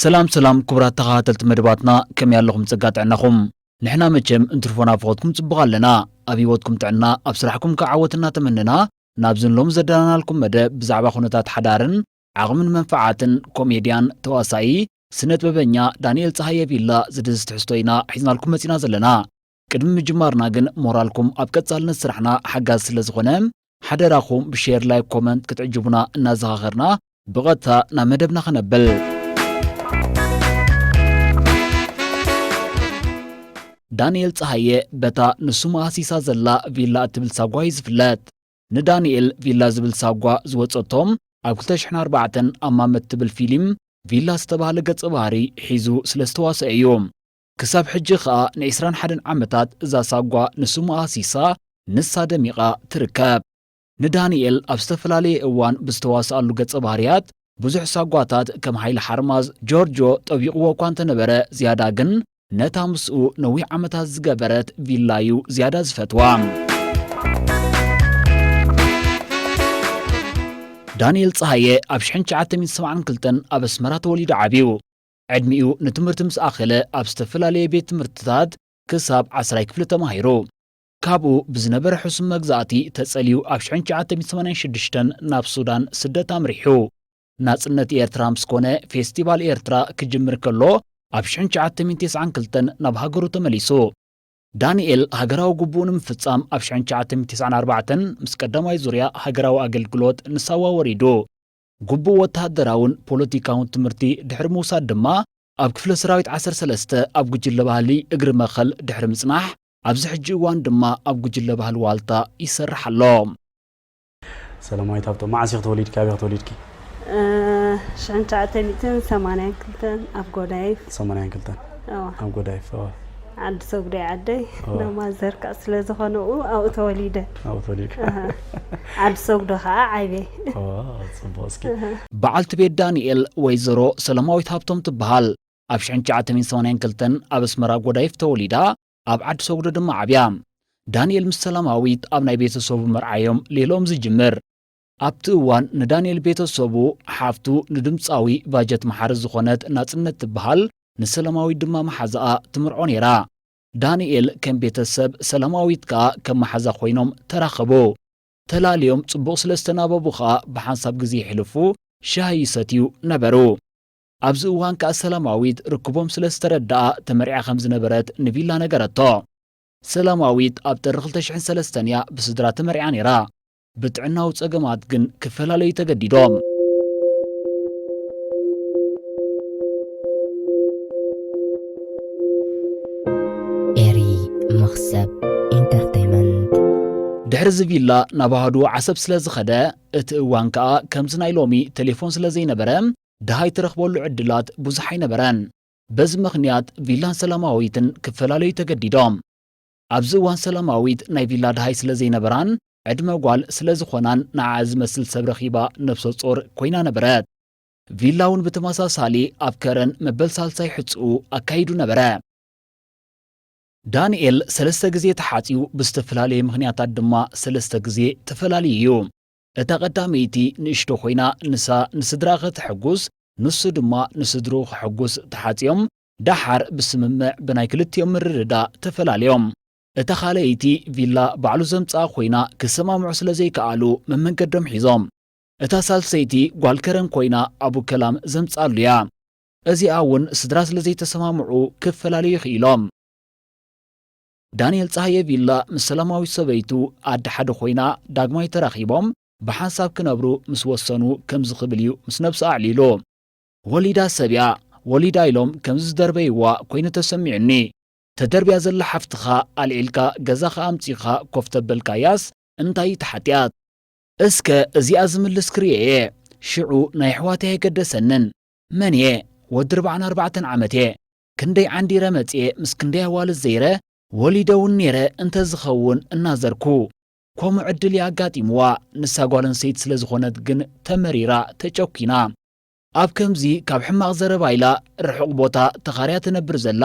ሰላም ሰላም ክቡራት ተኸታተልቲ መደባትና ከመይ ኣለኹም ጸጋ ጥዕናኹም ንሕና መቸም እንትርፎና ፍኾትኩም ጽቡቕ ኣለና ኣብ ህይወትኩም ጥዕና ኣብ ስራሕኩም ከዓወት እናተመነና ናብዚ ንሎሚ ዘዳለናልኩም መደብ ብዛዕባ ኩነታት ሓዳርን ዓቕምን መንፍዓትን ኮሜድያን ተዋሳኢ ስነጥበበኛ ዳኒኤል ጸሃየ ቪላ ዝድህስስ ትሕዝቶ ኢና ሒዝናልኩም መጺና ዘለና። ቅድሚ ምጅማርና ግን ሞራልኩም ኣብ ቀጻልነት ስራሕና ሓጋዚ ስለዝኾነ ሓደራኹም ብሼር ላይክ ኮመንት ክትዕጅቡና እናዘኻኸርና ብቐጥታ ናብ መደብና ክነብል። ዳንኤል ፀሃየ በታ ንሱ መኣሲሳ ዘላ ቪላ እትብል ሳጓ እዩ ዝፍለጥ ንዳንኤል ቪላ ዝብል ሳጓ ዝወፀቶም ኣብ 2004 ኣማመ እትብል ፊልም ቪላ ዝተባህለ ገጸ ባህሪ ሒዙ ስለ ዝተዋስኦ እዩ ክሳብ ሕጂ ኸኣ ን21 ዓመታት እዛ ሳጓ ንሱ መኣሲሳ ንሳ ደሚቓ ትርከብ ንዳንኤል ኣብ ዝተፈላለየ እዋን ብዝተዋስኣሉ ገጸ ባህርያት ብዙሕ ሳጓታት ከም ሓይሊ ሓርማዝ ጆርጆ ጠቢቑዎ እኳ እንተነበረ ዝያዳ ግን ነታ ምስኡ ነዊሕ ዓመታት ዝገበረት ቪላ እዩ ዝያዳ ዝፈትዋ። ዳንኤል ፀሃየ ኣብ 1972 ኣብ ኣስመራ ተወሊዱ ዓብዩ ዕድሚኡ ንትምህርቲ ምስ ኣኸለ ኣብ ዝተፈላለየ ቤት ትምህርትታት ክሳብ ዓስራይ ክፍሊ ተማሂሩ ካብኡ ብዝነበረ ሕሱም መግዛእቲ ተጸልዩ ኣብ ሽሕን ትሽዓተ ሚእቲ ሰማንያን ሽዱሽተን ናብ ሱዳን ስደት ኣምሪሑ። ናጽነት ኤርትራ ምስ ኮነ ፌስቲቫል ኤርትራ ክጅምር ከሎ ኣብ ሽሕን ትሽዓተ ሚእቲ ተስዓን ክልተን ናብ ሃገሩ ተመሊሱ። ዳኒኤል ሃገራዊ ግቡኡ ንምፍጻም ኣብ ሽሕን ትሽዓተ ሚእቲ ተስዓን ኣርባዕተን ምስ ቀዳማይ ዙርያ ሃገራዊ ኣገልግሎት ንሳዋ ወሪዱ። ግቡእ ወተሃደራውን ፖለቲካውን ትምህርቲ ድሕሪ ምውሳድ ድማ ኣብ ክፍለ ሰራዊት ዓሰርተ ሰለስተ ኣብ ጉጅለ ባህሊ እግሪ መኸል ድሕሪ ምጽናሕ ኣብዚ ሕጂ እዋን ድማ ኣብ ጉጅለ ባህሊ ዋልታ ይሰርሕ ኣሎ። ሰላማዊት ሃብቶም፣ መዓስ ኢኺ ተወሊድኪ? ኣበይ ኢኺ ተወሊድኪ? ሽሕን ትሽዓተ ሚእትን ሰማንያን ክልተን ኣብ ጎዳይፍ። ሰማንያን ክልተን ኣብ ጎዳይ ፈወ ዓዲ ሰጉዳይ ዓደይ እንዳ ማዘር ከዓ ስለ ዝኾነ ኣብኡ ተወሊደ ኣብኡ ተወሊደ ዓዲ ሰጉዶ ከዓ ዓይበ ፅቡቅ እስኪ በዓልቲ ቤት ዳንኤል ወይዘሮ ሰለማዊት ሃብቶም ትበሃል ኣብ 1982 ኣብ ኣስመራ ጎዳይፍ ተወሊዳ ኣብ ዓዲ ሰጉዶ ድማ ዓብያ ዳንኤል ምስ ሰላማዊት ኣብ ናይ ቤተሰቡ መርዓዮም ሌሎም ዝጅምር ኣብቲ እዋን ንዳንኤል ቤተ ሰቡ፣ ሓፍቱ፣ ንድምጻዊ ባጀት መሓሪ ዝኾነት ናጽነት ትበሃል ንሰለማዊት ድማ መሓዛኣ ትምርዖ ነይራ። ዳንኤል ከም ቤተ ሰብ ሰለማዊት ከኣ ከም መሓዛ ኮይኖም ተራኸቡ። ተላልዮም ጽቡቕ ስለ ዝተናበቡ ከኣ ብሓንሳብ ግዜ የሕልፉ፣ ሻሂ ይሰትዩ ነበሩ። ኣብዚ እዋን ከኣ ሰለማዊት ርክቦም ስለ ዝተረደኣ ተመርዕያ ከም ዝነበረት ንቪላ ነገረቶ። ሰለማዊት ኣብ ጥሪ ክልተ ሽሕን ሰለስተን እያ ብስድራ ተመርዕያ ነይራ። ብጥዕናዊ ጸገማት ግን ክፈላለዩ ተገዲዶም። ኤሪ መኽሰብ ኢንተርተይመንት። ድሕሪ'ዚ ቪላ ናብ ኣሃዱ ዓሰብ ስለ ዝኸደ፣ እቲ እዋን ከኣ ከምዚ ናይ ሎሚ ተሌፎን ስለ ዘይነበረ ደሃይ ትረኽበሉ ዕድላት ብዙሕ ኣይነበረን። በዚ ምኽንያት ቪላን ሰላማዊትን ክፈላለዩ ተገዲዶም። ኣብዚ እዋን ሰላማዊት ናይ ቪላ ደሃይ ስለ ዘይነበራን ዕድመ ጓል ስለ ዝኾናን ንዓኣ ዝመስል ሰብ ረኺባ ነብሰጾር ኮይና ነበረት። ቪላ'ውን ብተመሳሳሊ ኣብ ከረን መበል ሳልሳይ ሕጽኡ ኣካይዱ ነበረ። ዳንኤል ሰለስተ ግዜ ተሓጽዩ ብዝተፈላለየ ምኽንያታት ድማ ሰለስተ ግዜ ተፈላልዩ እዩ። እታ ቀዳመይቲ ንእሽቶ ኮይና ንሳ ንስድራ ከተሕጉስ ንሱ ድማ ንስድርኡ ከሕጉስ ተሓጽዮም ደሓር ብስምምዕ ብናይ ክልቲኦም ምርድዳእ ተፈላልዮም። እታ ካልኣይቲ ቪላ ባዕሉ ዘምጽኣ ኮይና ክሰማምዑ ስለ ዘይከኣሉ መመንገዶም ሒዞም። እታ ሳልሰይቲ ጓል ከረን ኮይና ኣቡ ከላም ዘምጽኣሉ እያ። እዚኣ እውን ስድራ ስለ ዘይተሰማምዑ ክፈላለዩ ክኢሎም። ዳንኤል ጸሃየ ቪላ ምስ ሰላማዊት ሰበይቱ ኣደ ሓደ ኮይና ዳግማይ ተራኺቦም ብሓንሳብ ክነብሩ ምስ ወሰኑ ከምዚ ክብል እዩ ምስ ነብሱ ኣዕሊሉ። ወሊዳ ሰብ'ያ ወሊዳ ኢሎም ከምዚ ዝደርበይዋ ኮይኑ ተሰሚዑኒ። ተደርብያ ዘላ ሓፍትኻ ኣልዒልካ ገዛኻ ኣምጺእኻ ኮፍ ተበልካያስ እንታይ እዩ እቲ ሓጢኣት? እስከ እዚኣ ዝምልስ ክሪኦ እየ። ሽዑ ናይ ኣሕዋተይ ኣይገደሰንን። መን እየ? ወዲ ርብዓን ኣርባዕተን ዓመት እየ። ክንደይ ዓንዲረ መጽየ ምስ ክንደይ ኣዋልድ ዘይረ ወሊደ ውን ኔረ እንተ ዝኸውን እናዘርኩ ኮሙ ዕድል ይኣጋጢምዋ ንሳ ጓል ኣንስተይቲ ስለ ዝኾነት ግን ተመሪራ ተጨኪና ኣብ ከምዚ ካብ ሕማቕ ዘረባ ኢላ ርሑቕ ቦታ ተኻርያ ትነብር ዘላ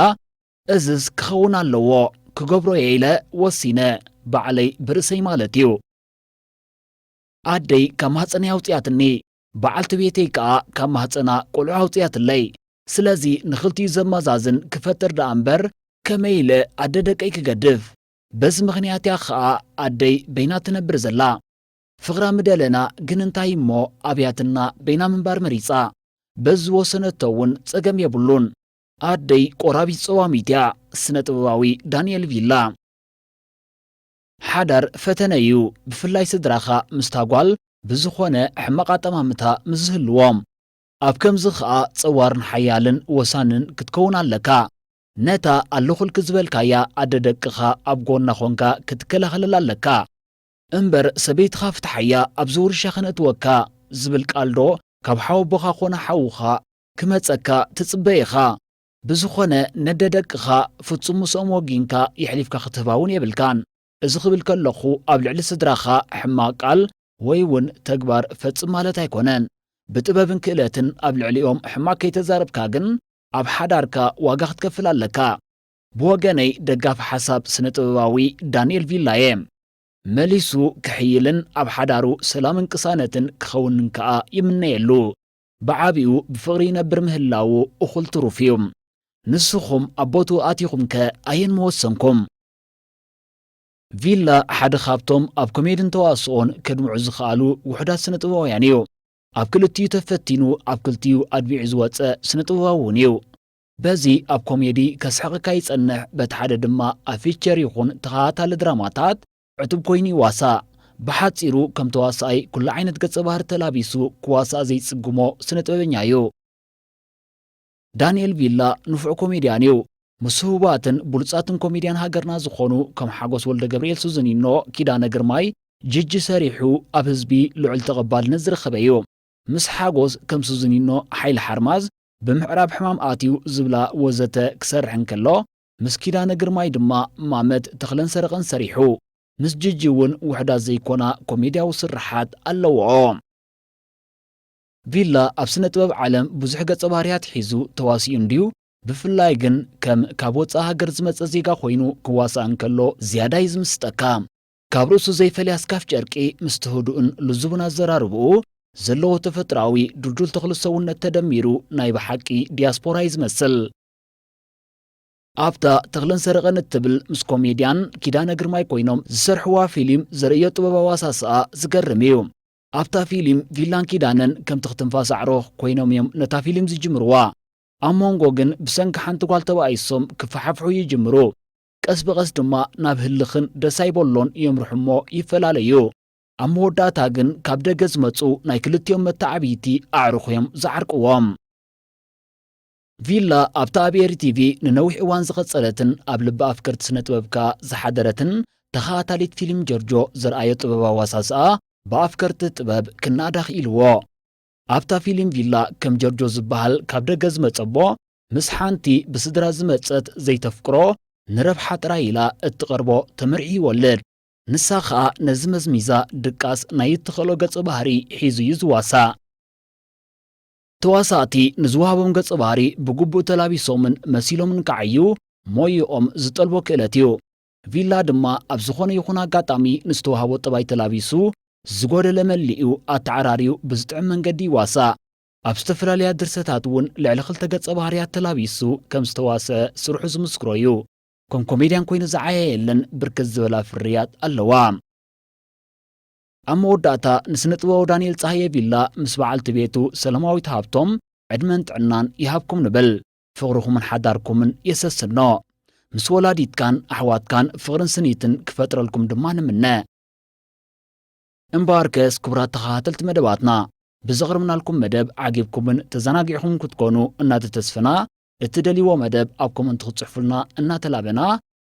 እዝስ ክኸውን ኣለዎ ክገብሮ እየ ኢለ ወሲነ ባዕለይ ብርእሰይ ማለት እዩ ኣደይ ካብ ማህጸነይ ኣውጽያትኒ በዓልቲ ቤተይ ከኣ ካብ ማህጸና ቆልዑ ኣውጺኣትለይ። ስለዚ ንኽልቲኡ ዘመዛዝን ክፈጥር ደኣ እምበር ከመይ ኢለ ኣደ ደቀይ ክገድፍ? በዚ ምኽንያት እያ ኸኣ ኣደይ በይና ትነብር ዘላ። ፍቕራ ምደለና ግን እንታይ እሞ ኣብያትና በይና ምንባር መሪጻ። በዚ ዝወሰነቶ እውን ጸገም የብሉን። ኣደይ ቆራቢት ጸዋሚት እያ። ስነ-ጥበባዊ ዳኒኤል ቪላ። ሓዳር ፈተነ እዩ ብፍላይ ስድራኻ ምስታ ጓል ብዝኾነ ሕማቕ ኣጠማምታ ምስ ዝህልዎም። ኣብ ከምዚ ከኣ ጸዋርን ሓያልን ወሳንን ክትከውን ኣለካ። ነታ ኣለኹልኪ ዝበልካያ ኣደ ደቅኻ ኣብ ጎና ኮንካ ክትከላኸለላ ኣለካ። እምበር ሰበይትኻ ፍትሓያ ኣብዚ ውርሻ ከነእትወካ ዝብል ቃልዶ ካብ ሓወቦኻ ኮነ ሓውኻ ክመጸካ ትጽበ ኢኻ። ብዝኾነ ነደ ደቅኻ ፍጹም ምስኦም ወጊንካ የሕሊፍካ ክትህባ እውን የብልካን። እዚ ክብል ከለኹ ኣብ ልዕሊ ስድራኻ ሕማቕ ቃል ወይ እውን ተግባር ፈጽም ማለት ኣይኮነን። ብጥበብን ክእለትን ኣብ ልዕሊኦም ሕማቕ ከይተዛረብካ ግን ኣብ ሓዳርካ ዋጋ ክትከፍል ኣለካ። ብወገነይ ደጋፊ ሓሳብ ስነ ጥበባዊ ዳኒኤል ቪላ እየ። መሊሱ ክሕይልን ኣብ ሓዳሩ ሰላምን ቅሳነትን ክኸውንን ከኣ ይምነየሉ። ብዓቢኡ ብፍቕሪ ይነብር ምህላዉ እኹል ትሩፍ እዩ። ንስኹም ኣብ ቦትኡ ኣቲኹምከ ኣየን ምወሰንኩም? ቪላ ሓደ ካብቶም ኣብ ኮሜድን ተዋስኦን ከድምዑ ዝኸኣሉ ውሑዳት ስነ-ጥበባውያን እዩ። ኣብ ክልቲኡ ተፈቲኑ ኣብ ክልቲኡ ኣድሚዑ ዝወጸ ስነ-ጥበባዊ እውን እዩ። በዚ ኣብ ኮሜዲ ከስሕቐካ ይጸንሕ በቲ ሓደ ድማ ኣብ ፊቸር ይኹን ተኸታታሊ ድራማታት ዕቱብ ኮይኑ ይዋሳእ። ብሓጺሩ ከም ተዋሳኣይ ኩሉ ዓይነት ገጸ ባህሪ ተላቢሱ ክዋሳእ ዘይጽግሞ ስነ ጥበበኛ እዩ። ዳኒኤል ቪላ ንፉዕ ኮሜድያን እዩ። ምስ ህቡባትን ብሉጻትን ኮሜድያን ሃገርና ዝኾኑ ከም ሓጎስ ወልደገብርኤል ሱዚኒኖ፣ ኪዳነ ግርማይ፣ ጂጂ ሰሪሑ ኣብ ህዝቢ ልዑል ተቐባልነት ዝረኸበ እዩ። ምስ ሓጎስ ከም ሱዚኒኖ፣ ሓይለ ሓርማዝ፣ ብምዕራብ ሕማም ኣትዩ ዝብላ ወዘተ ክሰርሕ እንከሎ ምስ ኪዳነ ግርማይ ድማ ማመት ተኽለን ሰረቐን ሰሪሑ። ምስ ጂጂ እውን ውሑዳት ዘይኮና ኮሜድያዊ ስርሓት ኣለውኦ። ቪላ ኣብ ስነ ጥበብ ዓለም ብዙሕ ገጸ ባህርያት ሒዙ ተዋሲኡ እንድዩ፣ ብፍላይ ግን ከም ካብ ወጻኢ ሃገር ዝመጸ ዜጋ ኮይኑ ክዋሳእ እንከሎ ዝያዳ እዩ ዝምስጠካ። ካብ ርእሱ ዘይፈልያ ስካፍ ጨርቂ ምስቲ ህዱእን ልዙብን ኣዘራርብኡ፣ ዘለዎ ተፈጥሮኣዊ ድልዱል ተኽሊ ሰውነት ተደሚሩ ናይ ብሓቂ ዲያስፖራ እዩ ዝመስል። ኣብታ ተኽለን ሰረቐን እትብል ምስ ኮሜድያን ኪዳነ ግርማይ ኮይኖም ዝሰርሕዋ ፊሊም ዘርእዮ ጥበባዊ ኣሳስኣ ዝገርም እዩ። ኣብታ ፊሊም ቪላን ኪዳነን ከምቲ ክትንፋስ ኣዕሮ ኮይኖም እዮም ነታ ፊሊም ዝጅምርዋ። ኣብ ሞንጎ ግን ብሰንኪ ሓንቲ ጓል ተባኢሶም ክፈሓፍሑ ይጅምሩ። ቀስ ብቐስ ድማ ናብ ህልኽን ደስ ኣይበሎን የምርሑ እሞ ይፈላለዩ። ኣብ መወዳእታ ግን ካብ ደገ ዝመጹ ናይ ክልቲኦም መተዓብይቲ ኣዕሩኽ እዮም ዝዓርቅዎም። ቪላ ኣብታ ኣብ ኤሪ-ቲቪ ንነዊሕ እዋን ዝቐጸለትን ኣብ ልቢ ኣፍቀርቲ ስነ-ጥበብ ከኣ ዝሓደረትን ተኸታታሊት ፊልም ጀርጆ ዘርኣዮ ጥበባዊ ኣዋሳስኣ ብኣፍቀርቲ ጥበብ ክነኣድ ኣኽኢልዎ። ኣብታ ፊልም ቪላ ከም ጀርጆ ዝበሃል ካብ ደገ ዝመጸ'ቦ ምስ ሓንቲ ብስድራ ዝመጸት ዘይተፍቅሮ ንረብሓ ጥራይ ኢላ እትቐርቦ ተመርዕዩ ይወልድ። ንሳ ከኣ ነዚ መዝሚዛ ድቃስ ናይ እትኽእሎ ገጸ ባህሪ ሒዙ'ዩ ዝዋሳእ። ተዋሳእቲ ንዝወሃቦም ገጸ ባህሪ ብግቡእ ተላቢሶምን መሲሎምን ክዓዩ ሞይኦም ዝጠልቦ ክእለት እዩ። ቪላ ድማ ኣብ ዝኾነ ይኹን ኣጋጣሚ ንዝተዋህቦ ጠባይ ተላቢሱ ዝጎደለ መሊኡ ኣተዓራርዩ ብዝጥዕም መንገዲ ይዋሳእ። ኣብ ዝተፈላለያ ድርሰታት እውን ልዕሊ ክልተ ገጸ ባህርያት ተላቢሱ ከም ዝተዋስኣ ስርሑ ዝምስክሮ እዩ። ከም ኮሜድያን ኮይኑ ዝዓየየለን ብርክት ዝበላ ፍርያት ኣለዋ። ኣብ መወዳእታ ንስነጥበባዊ ዳንኤል ጸሃየ ቪላ ምስ በዓልቲ ቤቱ ሰለማዊት ሃብቶም ዕድመን ጥዕናን ይሃብኩም ንብል። ፍቕርኹምን ሓዳርኩምን የሰስኖ። ምስ ወላዲትካን ኣሕዋትካን ፍቕርን ስኒትን ክፈጥረልኩም ድማ ንምነ። እምበኣርከስ ክቡራት ተኸታተልቲ መደባትና ብዘቕርብናልኩም መደብ ዓጊብኩምን ተዘናጊዕኹምን ክትኮኑ እናተተስፈና እትደልይዎ መደብ ኣብ ኮመንት ክትጽሕፉልና እናተላበና